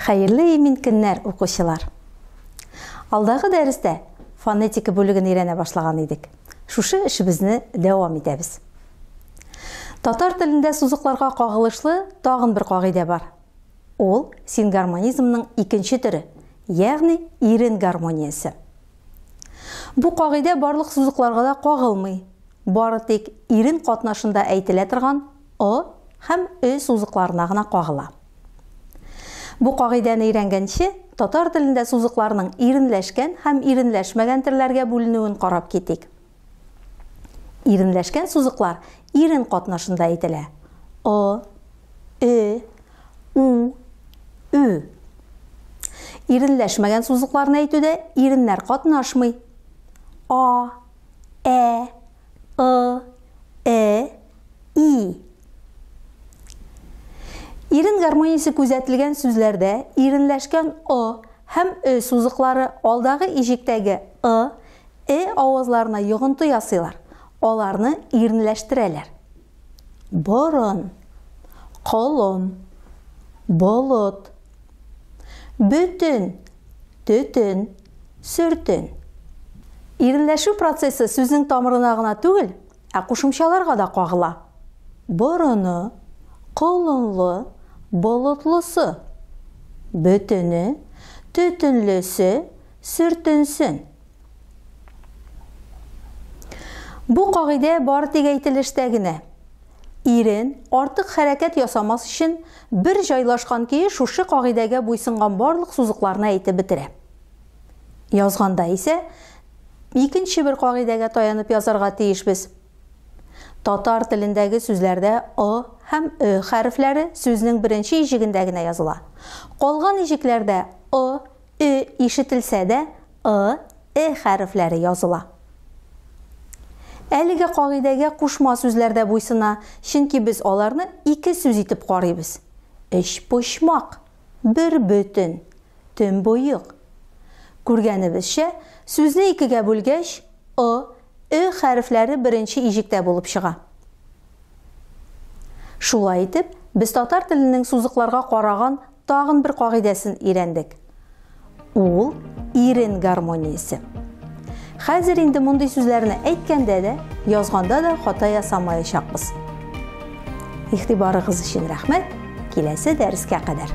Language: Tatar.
Хәерле имин көннәр, укучылар! Алдагы дәрестә фонетика бүлеген өйрәнә башлаган идек. Шушы эшебезне дәвам итәбез. Татар телендә сузыкларга кагылышлы тагын бер кагыйдә бар. Ул сингармонизмның икенче төре, ягъни ирен гармониясе. Бу кагыйдә барлык сузыкларга да кагылмый. Бары тик ирен катнашында әйтелә торган ы һәм ө сузыкларына гына кагыла. Бу кагыйдәне өйрәнгәнче, татар телендә сузыкларның иренләшкән һәм иренләшмәгән терләргә бүленүен карап китик. Иренләшкән сузыклар ирен катнашында әйтелә. О, э, у, ө. Иренләшмәгән сузыкларны әйтүдә иреннәр катнашмый. А, ә, ы, э, и. Ирен гармониясе күзәтелгән сүзләрдә иренләшкән ы һәм ө сузыклары алдагы ишектәге ы, э авазларына йогынты ясыйлар, аларны иренләштерәләр. Борын, колын, болыт. Бөтен, төтен. Сөртен. Иренләшү процессы сүзнең тамырына гына түгел, ә кушымчаларга да кагыла. Борыны, колынлы, болытлысы. Бөтене, төтенлесе, сөртенсен. Бу кагыйдә бары тик әйтелештә генә. Ирен артык хәрәкәт ясамас өчен Бер җайлашкан көе шушы кагыйдәгә буйсынган барлык сузыкларны әйтеп бетерә. Язганда исә икенче бер кагыйдәгә таянып язарга тиешбез. Татар телендәге сүзләрдә ы һәм ө хәрефләре сүзнең беренче иҗегендә генә языла. Калган иҗекләрдә ы, Ө ишетелсә дә, ы, э хәрефләре языла. Әлеге кагыйдәгә кушма сүзләр дә буйсына, чөнки без аларны ике сүз итеп карыйбыз. Өчпочмак, бербөтен, төнбоек. Күргәнебезчә, сүзне икегә бүлгәч, ы, э хәрефләре беренче иҗектә булып чыга. Шулай итеп, без татар теленең сузыкларга караган Тагын бер кагыйдәсен өйрәндек. Ул ирен гармониясе. Хәзер инде мондый сүзләрне әйткәндә дә, язганда да хата ясамаячакбыз. Игътибарыгыз өчен рәхмәт. Киләсе дәрескә кадәр.